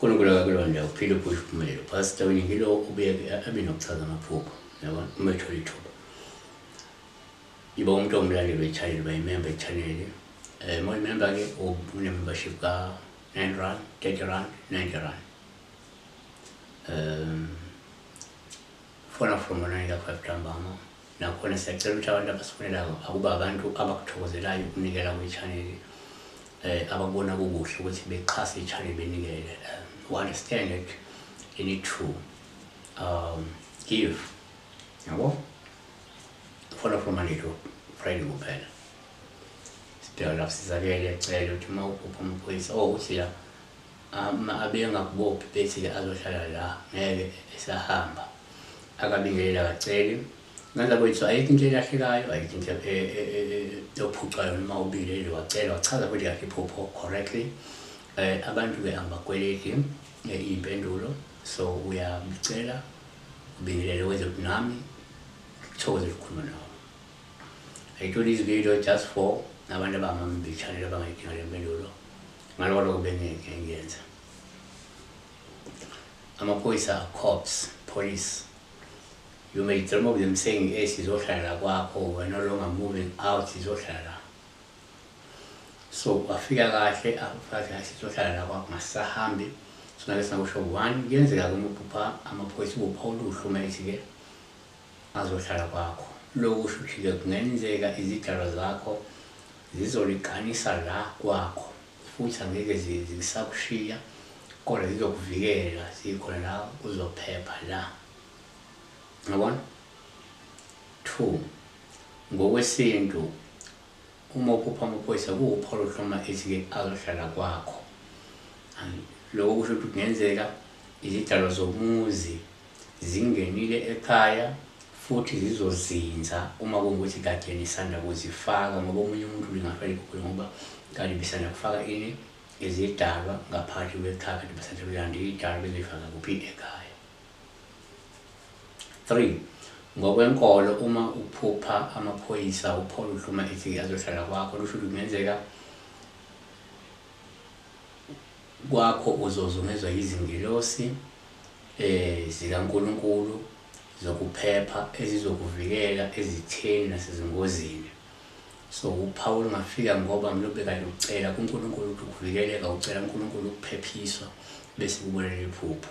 uNkulunkulu akakulonda uphile uphusha uphumelelo pastor wena ngilo ubuye abe nokuchaza amaphupho yabona uma ethola ithuba iba umuntu omlandeli wechannel uba imemba echannel um eh, uma imemba-ke une-membership ka-nine rand thirty rand ninety rand um fona from onanela five ntambama nakhona siyacela ukuthi abantu abasifonelayo akuba abantu abakuthokuzelayo ukunikela kwichaneli um eh, abakubona kukuhle ukuthi bexhase ichaneli benikele um we understand it you need to um give yabo fona from anelo friday kuphela sibheka lapho sizakele cele ukuthi uma uphupha umphuyisa o oh, uthi la Uma abengakubophi ethile azohlala la ngeke esahamba akabingelela akaceli ngenza kwethu ayikho into elahlekayo ayikho into yophucwayo noma ubingeleli wacela wachaza futhi kahle iphupho correctly um abantu-ke angibakweleti iy'mpendulo so uyamcela ubingelele wenze ukuthi nami thokoze ukukhuluma nawo i do this video just for nabantu abangambichanele abangayidinga le mpendulo ngaloko lokho bengeke ngiyenza amaphoyisa cops police you may dream of them saying e sizohlala kwakho we're no longer moving out sizohlala so wafika kahle afathi hayi sizohlala la kwakho ngasisahambi sona ke singakusho one kuyenzeka-ke uma ubhupha amaphoyisa ubupha oluhlu uma ethi-ke Azohlala kwakho. Lokhu kushuthi-ke kungenzeka izidalwa zakho zizoliqanisa la kwakho futhi angeke zisakushiya kodwa zizokuvikela zikhona la uzophepha la. Ngabona? Two, ngokwesintu uma uphupha amaphoyisa kuwupholo oluhloma ethi-ke azohlala kwakho. Lokho kusho ukuthi kungenzeka izidalwa zomuzi Zingenile ekhaya futhi zizozinza uma kungukuthi kade nisanda kuzifaka ngoba omunye umuntu ningafa nikhukhule ngoba kade bisanda kufaka ini izidalwa ngaphakathi kwekhaya kade basanda kuyanda idalwa bezifaka kuphi ekhaya. 3 ngokwenkolo uma uphupha amaphoyisa upholo uhluma ethi azohlala kwakho lusho ukuthi kungenzeka Kwakho uzozungezwa yizingelosi zikaNkulunkulu zokuphepha ezizokuvikela ezitheni nasezingozini. So uPawulu ungafika ngoba mlo bekade ucela kuNkulunkulu ukuthi ukuvikeleka, ucela uNkulunkulu ukuphephiswa bese kubonela iphupho.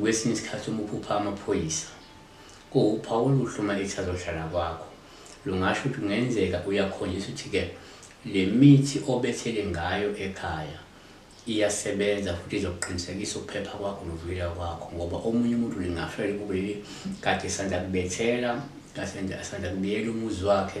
Kwesinye isikhathi uma uphupha amaphoyisa kuwuphawu oluhle uma ethi azohlala kwakho. Lungasho ukuthi kungenzeka uyakhonjisa ukuthi-ke le mithi obethele ngayo ekhaya iyasebenza futhi izokuqinisekisa ukuphepha kwakho nokuvikeleka kwakho ngoba omunye umuntu lingafela kukuleli kade sanda kubethela kasanda kubiyela umuzi wakhe